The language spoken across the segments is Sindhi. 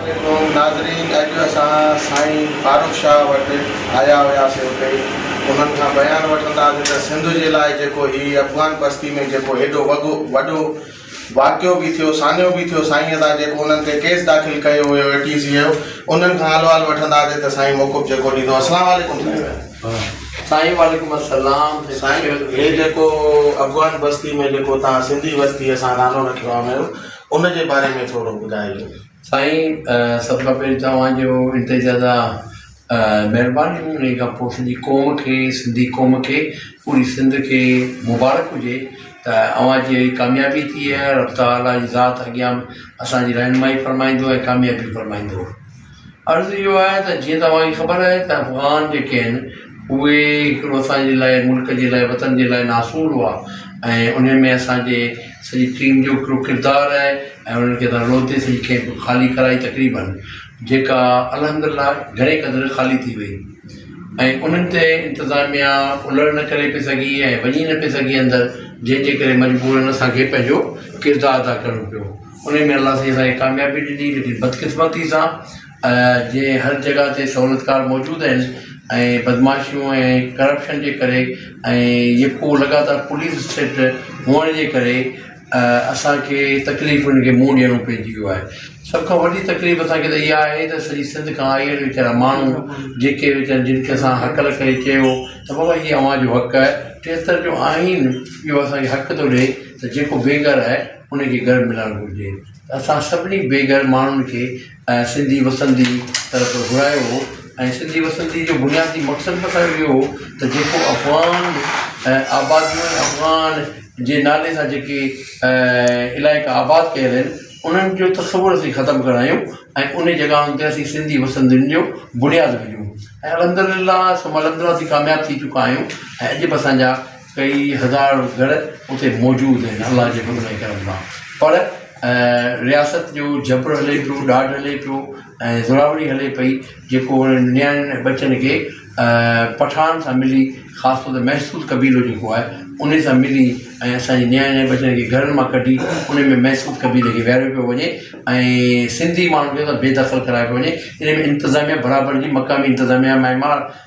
عليڪم ناظرين اڄ اسان سائين فاروق شاهه وٽ آيا هياسي اتي انهن کان بيان وٺنداسي ته سنڌ جي لاء جيڪو هي افغان بستي ۾ جيڪو هيڏو وڳو وڏو واقعو به ٿيو، سانحو به ٿيو، سائينء سان جيڪو انهن تي ڪيس داخل ڪيو ويو اي ٽي سيء جو، انهن کان حال احوال وٺنداسين ته سائين موقف جيڪو ڏيندو. السلام عليڪم سائين. سائين وعليڪم السلام. سائين هي جيڪو افغان بستي ۾ جيڪو توهان سنڌي وستي اسان نالو رکيو آهي ميرو ان جي باري ۾ ٿورو ٻڌائجو. سائين سڀ کان پهرين توهان جو انتظار. مھرباني ھون ريگا پوء سنڌي قوم کي سنڌي قوم کي پوري سنڌ کي مبارڪ ھجي ته اوھان جي اھڙي ڪاميابي ٿئي ۽ رب تعالي جي ذات اڳيان اسان جي رھنمائي فرمائيندو ۽ ڪاميابي فرمائيندو عرض اھو آھي ته جيئن ته اوھان کي خبر آھي ته افغان جيڪي آھن اھي ھڪڙو اسان جي لاء ملڪ جي لاء وطن جي لاء ناسور ھئا ۽ انھن ۾ اسان جي سڄي ٽيم جو ھڪڙو ڪردار آھي ۽ انھن کي تھان روتي سڄي ڪئمپ خالي ڪرائي تقريبن جيڪا الحمدالله گهڻي قدر خالي ٿي وئي ۽ انهن تي انتظاميا الهڙ نه ڪري پئي سگهي ۽ وڃي نه پئي سگهي اندر جنهن جي ڪري مجبورن اسان کي پنهنجو ڪردار ادا ڪرڻو پيو انهي ۾ الله سائين اسان کي ڪاميابي ڏني ليڪن بدقسمتي سان جي هر جڳهه تي سهولتڪار موجود آهن ۽ بدمعاشيون ۽ ڪرپشن جي ڪري ۽ يڪو لڳاتار پوليس اسٽيٽ هئڻ جي ڪري اسان کي تڪليف انهن کي منهن ڏيڻو پئجي ويو آهي سڀ کان وڏي تڪليف اسان کي ته اها آهي ته سڄي سنڌ کان آئي اهي ويچارا ماڻهو جيڪي ويچارا جن کي اسان هڪل ڪري چيو ته بابا هي اوهان جو حق آهي ٽيهتر جو آئين اهو اسان کي حق ٿو ڏئي ته جيڪو بي گهر آهي انهي کي گهر ملڻ گهرجي اسان سڀني بي گهر ماڻهن کي ۽ سنڌي وسندي طرف گهرايو هو ۽ سنڌي وسندي جو بنيادي مقصد به اسانجو اهو هو ته جيڪو افغان ۽ آباديون ۽ افغان جي نالي سان جيڪي علائقا آباد ڪيل آهن انهن جو تصور اسين ختم ڪرايون ۽ انهي جڳهن تي اسين سنڌي وسندين جو بنياد وجهون ۽ الحمد لله سڀ الحمد لله اسين ڪامياب ٿي چڪا آهيون ۽ اڄ به اسانجا ڪيئي هزار گهر اتي موجود آهن الله جي فضل ۽ ڪرم سان پر رياست جو جبر هلي پيو ڏاڍ هلي پيو ۽ زورآوري هلي پئي جيڪو انهن نياڻين ۽ ٻچن کي پٺاڻن سان ملي خاص طور تي محسود قبيلو جيڪو آهي انهي سان ملي ۽ اسان جي نياڻين ۽ ٻچن کي گهرن مان ڪڍي انهن ۾ محسود قبيلي کي ويهاريو پيو وڃي ۽ سنڌي ماڻهن کي بي دخل ڪرايو پيو وڃي انهي ۾ انتظاميا برابر جي مقامي انتظاميا ۽ ماڻهن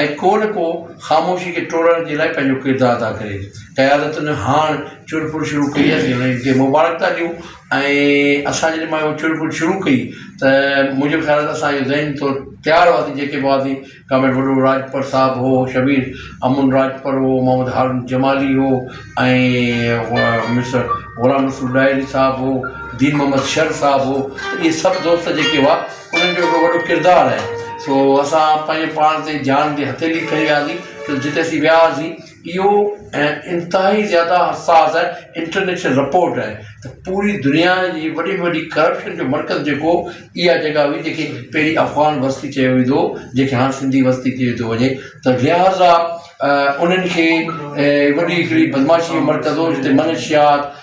۽ ڪو نه ڪو خاموشي کي ٽوڙڻ جي لاء پنهنجو ڪردار ادا ڪري. قيادتن هاڻ چور ڦر شروع ڪئي آهي انهن کي مبارڪتا ڏيون ۽ اسان جڏهن مايو چور ڦر شروع ڪئي ته منهنجو خيال آهي اسان اهو ذهني طور تيار هئاسين جيڪي به هئاسين ڪامريڊ وڏو راڄپر صاحب هو شبير امن راڄپر هو محمد هارون جمالي هو ۽ مسٽر غلام رسول ڏاهري صاحب هو دين محمد شر صاحب هو اهي سڀ دوست جيڪي هئا انهن جو هڪڙو وڏو ڪردار آهي سو اسان پنهنجي پاڻ تي جان جي هٿيلي کڻي وياسي ته جتي اسين وياسي اهو ۽ انتهائي زياده حساس آهي انٽرنيشنل رپورٽ آهي ته پوري دنيا جي وڏي ۾ وڏي ڪرپشن جو مرڪز جيڪو اها جڳهه هئي جيڪي پهرين افغان وستي چيو ويندو هو جيڪي هاڻ سنڌي وستي چيو ٿو وڃي ته لهٰذا انهن کي وڏي هڪڙي بدماشي جو مرڪز هو جتي منشيات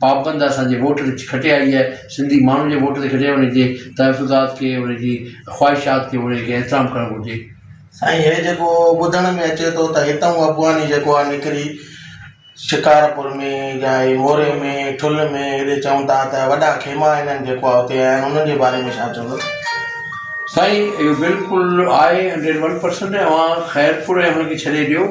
پابند اسان جي ووٽ تي کٽي آئي آهي سنڌي ماڻهن جي ووٽ تي کٽي آهي انهن جي تحفظات کي انهن جي خواهشات کي انهن کي احترام ڪرڻ گهرجي. سائين هي جيڪو ٻڌڻ ۾ اچي ٿو ته هتئون ابواني جيڪو آهي نڪري شڪارپور ۾ جا هي موري ۾ ٺل ۾ هيڏي چون ٿا ته وڏا خيما هنن جيڪو آهي اتي هنيا آهن انهن جي باري ۾ ڇا چوندو. سائين اهو بلڪل آهي هنڊريڊ ون پرسنٽ اوهان خيرپور ۽ انهن کي ڇڏي ڏيو.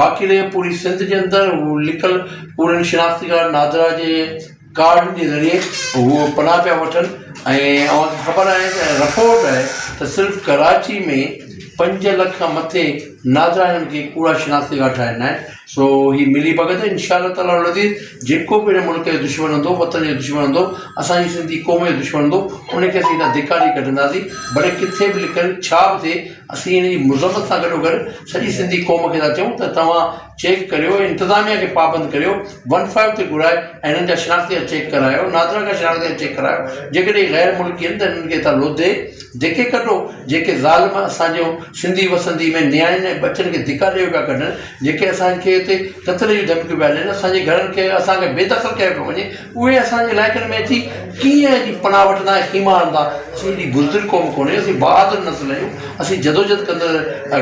باقي رهي پوري سنڌ جي اندر هو لڪل پورن شناختي ڪارڊ نادرا جي ڪارڊن جي ذريعي هو پناهه پيا وٺن ۽ اوهان کي خبر آهي ته رپورٽ آهي ته صرف ڪراچي ۾ پنج لک کان مٿي نادرا هنن کي ڪوڙا شناختي ڪارڊ ٺاهي ڏنا آهن سو هي ملي ڀڳت ان شاء الله تعالٰي العزيز جيڪو به هن ملڪ جو دشمن هوندو وطن جو دشمن هوندو اسانجي سنڌي قوم جو دشمن هوندو ان کي اسين هتان ڌڪاري ڪڍنداسين ڀلي ڪٿي به لڪل ڇا به ٿئي اسين ان جي مذمت سان گڏوگڏ سڄي سنڌي قوم کي ٿا چئون ته توهان چيڪ ڪريو ۽ انتظاميا کي پابند ڪريو ون فائو تي گهرائي ۽ هنن جا شناختي جا چيڪ ڪرايو نادرا کان شناختي جا چيڪ ڪرايو جيڪڏهن هي غير ملڪي آهن ته هنن کي هتان لوڌي ڌڪي ڪڍو جيڪي ظالم اسان جون سنڌي وسندي ۾ نياڻين ۽ ٻچن کي ڌڪا ڏيئي پيا ڪڍن جيڪي اسان کي هتي قتل جون ڌمڪيون پيا ڏين اسان جي گهرن کي اسان کي بي دخل ڪيو پيو وڃي اهي اسان جي علائقن ۾ اچي ڪيئن ايڏي پناهه وٺندا ۽ خيما هڻندا؟ اسين ايڏي بزدل قوم ڪونهي، اسين بهادر نسل آهيون، اسين جدوجهد ڪندڙ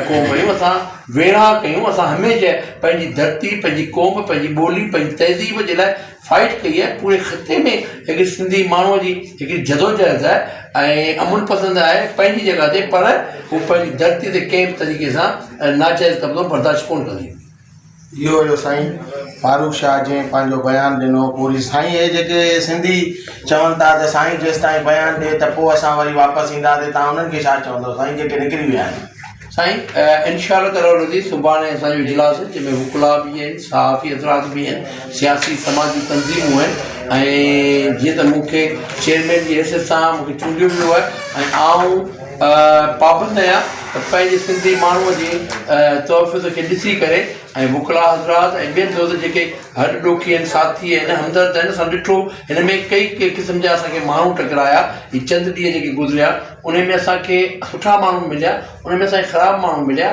قوم آهيون، اسان ويڙهاڪ آهيون، اسان هميشه پنهنجي ڌرتي، پنهنجي قوم، پنهنجي ٻولي، پنهنجي تهذيب جي لاء فائيٽ ڪئي آهي، پوري خطي ۾ هڪڙي سنڌي ماڻهوء جي هڪڙي جدوجهد آهي ۽ امن پسند آهي پنهنجي جڳهه تي پر هو پنهنجي ڌرتي تي ڪنهن به طريقي سان ناجائز قبضو برداشت ڪونه ڪندي. اهو هيو سائين فاروق شاهه جنهن پنهنجو بيان ڏنو پوري سائين هي جيڪي سنڌي چون ٿا ته سائين جيستائين بيان ڏي ته پوء اسان وري واپس اينداسي تان انهن کي ڇا چوندو سائين جيڪي نڪري ويا آهن. سائين انشاء الله تعالٰي العزيز سڀاڻي اسان جو اجلاس آهي جنهن ۾ وڪلا به آهن صحافي حضرات به آهن سياسي سماجي تنظيمون آهن ۽ جيئن ته مون کي چيئرمين جي حيثيت سان مون کي چونڊيو ويو آهي ۽ آئون پابند آهيان ته پنهنجي سنڌي ماڻهوء جي تحفظ کي ڏسي ڪري ۽ وڪلا حضرات ۽ ٻين دوستن جيڪي هڏ ڏوکي آهن ساٿي آهن همدرد آهن اسان ڏٺو هن ۾ ڪئي ڪئي قسم جا اسان کي ماڻهو ٽڪرايا هي چند ڏينهن جيڪي گذريا ان ۾ اسان کي سٺا ماڻهو مليا ان ۾ اسان کي خراب ماڻهو مليا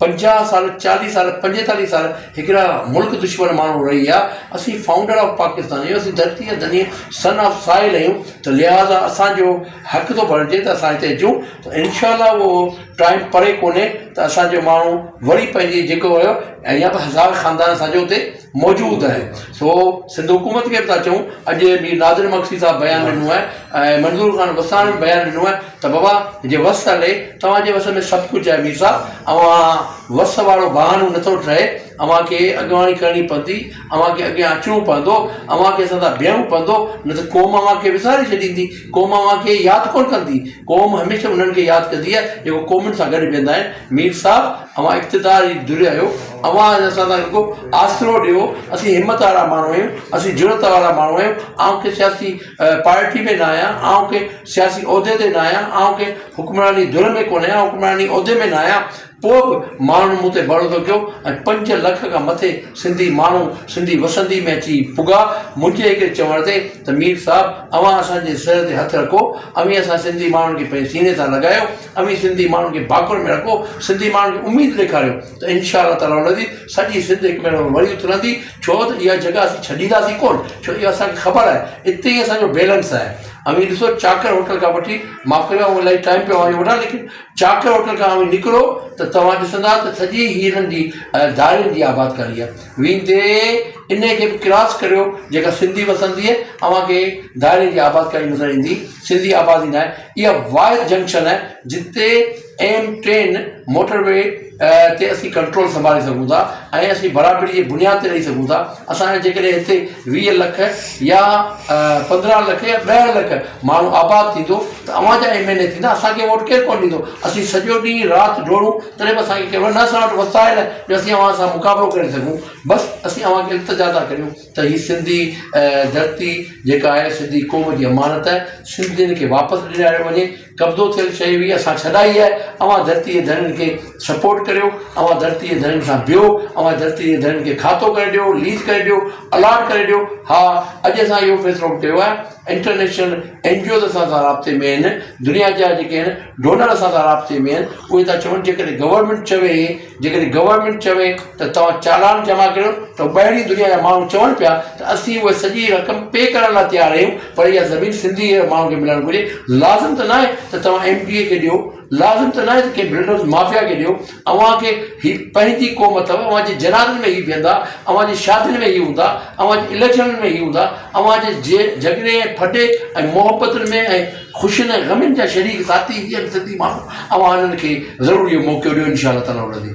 پنجاهه سال چاليهه سال پنجيتاليهه سال هڪڙا ملڪ دشمن ماڻهو رهي ويا اسين فائونڊر آف پاڪستان آهيون اسين ڌرتي جا ڌني سن آف سائل آهيون ته لهٰذا اسانجو حق ٿو بڻجي ته اسان هتي اچون ته انشاء الله اهو ٽائيم پري ڪونهي ته اسانجو ماڻهو وري پنهنجي جيڪو هيو ۽ يا به هزار خاندان اسانجو هتي موجود آهي سو سنڌ حڪومت کي به ٿا چئون اڄ مير نادر مگسي صاحب بيان ڏنو آهي ۽ منظور خان وساڻ بيان ڏنو آهي ته بابا جي وس هلي، توهان جي وس ۾ سڀ ڪجهه آهي مير صاحب، اوهان وس وارو بهانو نه ٿو ٺهي، اوهان کي اڳواڻي ڪرڻي پوندي، اوهان کي اڳيان اچڻو پوندو، اوهان کي اسان سان بيهڻو پوندو، نه ته قوم اوهان کي وساري ڇڏيندي، قوم اوهان کي ياد ڪونه ڪندي، قوم هميشه انهن کي ياد ڪندي آهي جيڪو قومن سان گڏ بيهندا آهن، مير صاحب اوهان اقتدار جي ڌري آهيو، اوهان اسان سان رڳو آسرو ڏيو، اسين همت وارا ماڻهو آهيون، اسين جرئت وارا ماڻهو آهيون، اوهان کي سياسي. پارٽي ۾ نه آهيان، آئون ڪنهن سياسي عهدي تي نه آهيان، آئون ڪنهن حڪمراني ڌر ۾ ڪونه آهيان، حڪمراني عهدي ۾ نه آهيان، پوء به ماڻهن مون تي ڀروسو ڪيو ۽ پنج لک کان مٿي سنڌي ماڻهو سنڌي وسندي ۾ اچي پڳا، منهنجي هڪڙي چوڻ تي ته مير صاحب اوهان اسان جي سر تي هٿ رکو، اوهين اسان سنڌي ماڻهن کي پنهنجي سيني سان لڳايو، اوهين سنڌي ماڻهن کي ڀاڪر ۾ رکو، سنڌي ماڻهن کي اميد ڏيکاريو. ته انشاء الله تعالٰي العزيز سڄي سنڌ هڪ ڀيرو وري اٿلندي ڇو ته اها جڳهه اسين ڇڏينداسين ڪونه ڇو اهو اسان کي خبر آهي اتي ئي اسان جو بيلنس آهي اوهين ڏسو چاڪر هوٽل کان وٺي معاف ڪجو آئون الاهي ٽائيم پيو اوهان جو وٺان ليڪن چاڪر هوٽل کان اوهين نڪرو ته توهان ڏسندا ته سڄي هيرن جي ڌارين جي آبادڪاري آهي ويندي ان کي به ڪراس ڪريو جيڪا سنڌي وسندي آهي اوهان کي ڌارين جي آبادڪاري نظر ايندي سنڌي آبادي ناهي اها واحد جنڪشن آهي جتي ايم ٽين موٽر وي تي اسين ڪنٽرول سنڀالي سگهون ٿا ۽ اسين برابري جي بنياد تي رهي سگهون ٿا اسان جا جيڪڏهن هتي ويهه لک يا پندرهن لک يا ڏهه لک ماڻهو آباد ٿيندو ته اوهان جا ايم اين اي ٿيندا اسانکي ووٽ ڪير ڪونه ڏيندو اسين سڄو ڏينهن رات ڊوڙون تڏهن به اسانکي ڪير نه اسان وٽ وسائل آهن جو اسين اوهان سان مقابلو ڪري سگهون بس اسين اوهانکي التجا ٿا ڪريون ته هي سنڌي ڌرتي جيڪا آهي سنڌي قوم جي امانت آهي سنڌين کي واپس ڏياريو وڃي قبضو ٿيل شيء هئي اسان ڇڏائي آهي اوهان ڌرتي جي ڌڻين کي سپورٽ ڪريو اوهان ڌرتي جي ڌڻين سان بيهو اوهان ڌرتي جي ڌڻين کي کاتو ڪري ڏيو ليز ڪري ڏيو الاٽ ڪري ڏيو ها اڄ اسان اهو فيصلو به ڪيو آهي انٽرنيشنل اين جي اوز اسان سان رابطي ۾ آهن دنيا جا جيڪي آهن ڊونر اسان سان رابطي ۾ آهن اهي ٿا چون جيڪڏهن گورمينٽ چوي جيڪڏهن گورنمينٽ چوي ته توهان چالان جمع ڪريو ته ٻاهرين دنيا جا ماڻهو چون پيا ته اسين اها سڄي رقم پي ڪرڻ لاء تيار آهيون پر اها زمين سنڌي ماڻهن کي ملڻ گهرجي لازم ته ناهي ته توهان ايم پي اي کي ڏيو لازم ته ناهي ته ڪنهن بلڊوز مافيا کي ڏيو اوهان کي هي پنهنجي قوم اٿو اوهان جي جنازن ۾ هي بيهندا اوهان جي شادين ۾ هي هوندا اوهان جي اليڪشنن ۾ هي هوندا اوهان جي جهڳڙي ۽ ڦٽي ۽ محبتن ۾ ۽ خوشين ۽ غمين جا شريڪ ذاتي هي آهن سنڌي ماڻهو اوهان هنن کي ضرور اهو موقعو ڏيو انشاء الله تعالي هن جي.